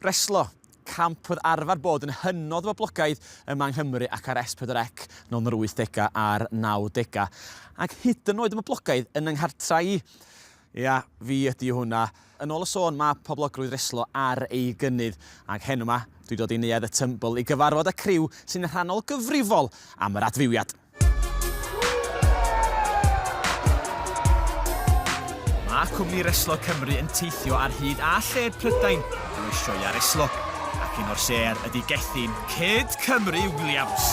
Reslo, camp oedd arfer bod yn hynod boblogaidd yma yng Nghymru ac ar S4C nol yn yr wythdegau a'r nawdegau, ac hyd yn oed yn boblogaidd yn 'y nghartrau i. Ia, fi ydi hwnna. Yn ôl y sôn, mae poblogrwydd reslo ar ei gynnydd, ac heno 'ma, dwi dod i Neuadd y Tymbl i gyfarfod y criw sy'n rhannol gyfrifol am yr adfywiad. Mae cwmni Reslo Cymru yn teithio ar hyd a lled Prydain drwy sioeau reslo, ac un o'r sêr ydy Gethin, Kid Cymru Williams!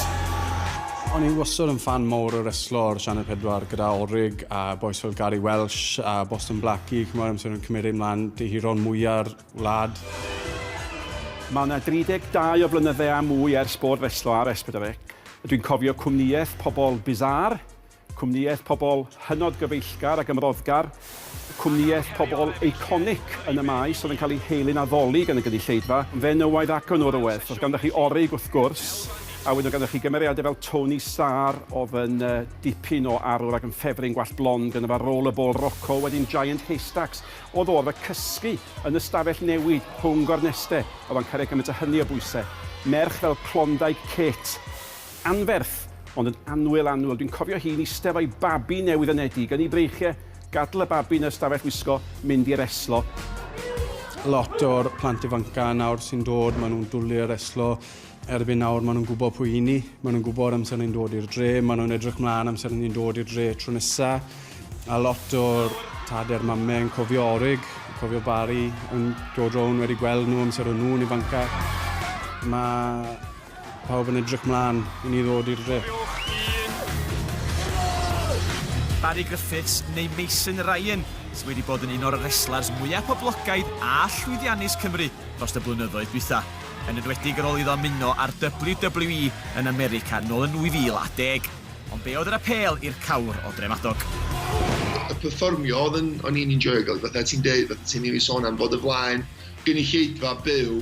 O'n i wastad yn ffan mowr o reslo ar Sianel 4 gyda Orig a bois fel Gary Welsh a Boston Blackie, ch'mod, amser o'n cymryd e mlan, dyheron mwya'r wlad. Mae yna 32 o flynyddau a mwy ers bod Reslo ar Esbydrec. Dwi'n cofio cwmnïaeth pobl bizarre, cwmnïaeth pobl hynod gyfeillgar a gymroddgar, cwmnïaeth pobl iconic yn y maes oedd yn cael ei helu'n addoli gan y gynulleidfa, fenywaidd ac o norwedd. Oedd ganddoch chi Orig, wrth gwrs, a wedyn oedd ganddoch chi gymeriadau fel Tony Starr, oedd yn dipyn o arwr ac yn ffefryn gwallt blond, ganddo fo Rollerball Rocco, wedyn Giant Haystacks. Oedd o arfer cysgu yn y stafell newid rhwng gornestau a oedd o'n cario gymaint a hynny o bwysau. Merch fel Klondike Kate. Anferth, ond yn annwyl annwyl. Dwi'n cofio hi'n eistedd efo'i babi newydd yn edi, gynnu breichiau, gadael y babi yn y stafell wisgo, mynd i reslo. Lot o'r plant ifancau nawr sy'n dod, maen nhw'n dwlu ar reslo. Erbyn nawr maen nhw'n gwybod pwy i ni, maen nhw'n gwybod amser ni'n dod i'r dre, maen nhw'n edrych mlaen amser ni'n dod i'r dre tro nesa, a lot o'r tader mame yn cofio Orig, cofio Barry, yn dod rown wedi gweld nhw amser o'n nhw'n ifanca. Mae pawb yn edrych mlaen i ni ddod i'r dre. Barry Griffiths, neu Mason Ryan, sydd wedi bod yn un o'r reslars mwyaf poblogaidd a llwyddiannus Cymru dros y blynyddoedd dwytha. yn enwedig ar ôl iddo ymuno â'r WWE yn America nôl yn 2010. Ond be oedd yr apêl i'r cawr o Dremadog? y perfformio oedd yn, o'n i'n enjoy gael, fatha ti'n deud, fatha ti'n ei sôn am bod y flaen gynulleidfa byw,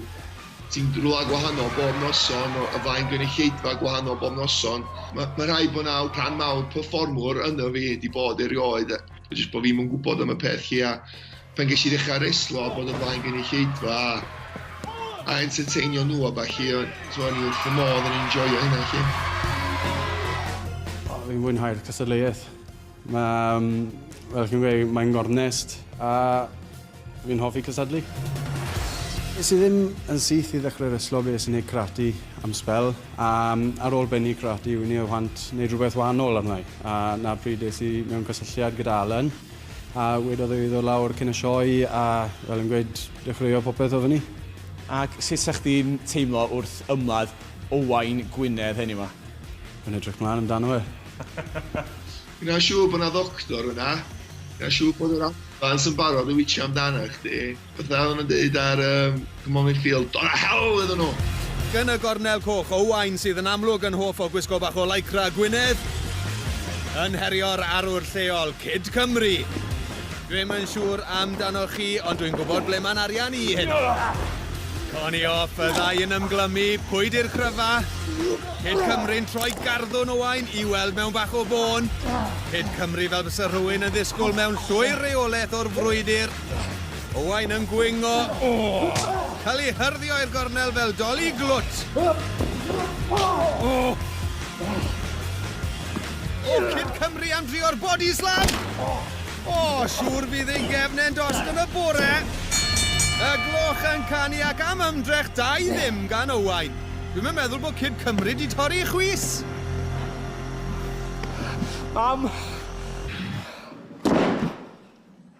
ti'n rhywle gwahanol bob noson, o flaen gynulleidfa gwahanol bob noson. Mae ma rhaid bod naw rhan mawr perfformwr yno fi wedi bod erioed, jyst bod fi'n mwyn gwybod am y peth lle a pan ges i ddechra reslo a bod o flaen gynulleidfa a a enterteinio nhw a ballu a t'mo' o'n i wrth fy modd yn enjoio hynna 'lly. O fi'n mwynhau'r cystadleuaeth. Mae yym fel chi'n gweud mae'n gornest a fi'n hoffi cystadlu. Es i ddim yn syth i ddechrau reslo fi es i neud karate am sbel a yym ar ôl bennu karate wi newydd want neud rhywbeth wahanol arna i a 'na'r pryd es i mewn cysylltiad gyda Alan A wedodd e i ddod lawr cyn y sioe a, fel yn gweud, dechreuo popeth o fyny. Ac sut 'sa chdi'n teimlo wrth ymladd Owain Gwynedd heddiw 'ma? Yn edrych mlan amdano fe. Gwna siŵr bod 'na ddoctor yna. Gwna siŵr bod yr ambulance yn barod i witsio amdana chdi. Beth na oedden nhw'n deud ar um, The Morning Field? Don a hell iddyn nhw! Gan y gornel coch, Owain sydd yn amlwg yn hoff o gwisgo bach o lycra Gwynedd yn herio'r arwr lleol, Cyd Cymru! Dwi'm yn siŵr amdanoch chi, ond dwi'n gwybod ble mae'n arian i heno. Connie off, y ddau yn ymglymu, pwy di'r cryfa? Cyd Cymru'n troi garddwn Owain i weld mewn bach o fôn. Cyd Cymru fel bysa rhywun yn ddisgwyl mewn llwyr reolaeth o'r frwydr. Owain yn gwingo. Cael ei hyrddio i'r gornel fel doli glwt. O! O, Cyd Cymru am drio'r body slam! O, siŵr fydd ei gefn e'n dost yn y bore! Y gloch yn canu ac am ymdrech da i ddim gan Owain. Dwi'm yn meddwl bod Cyd Cymru di torri chwys! Mam!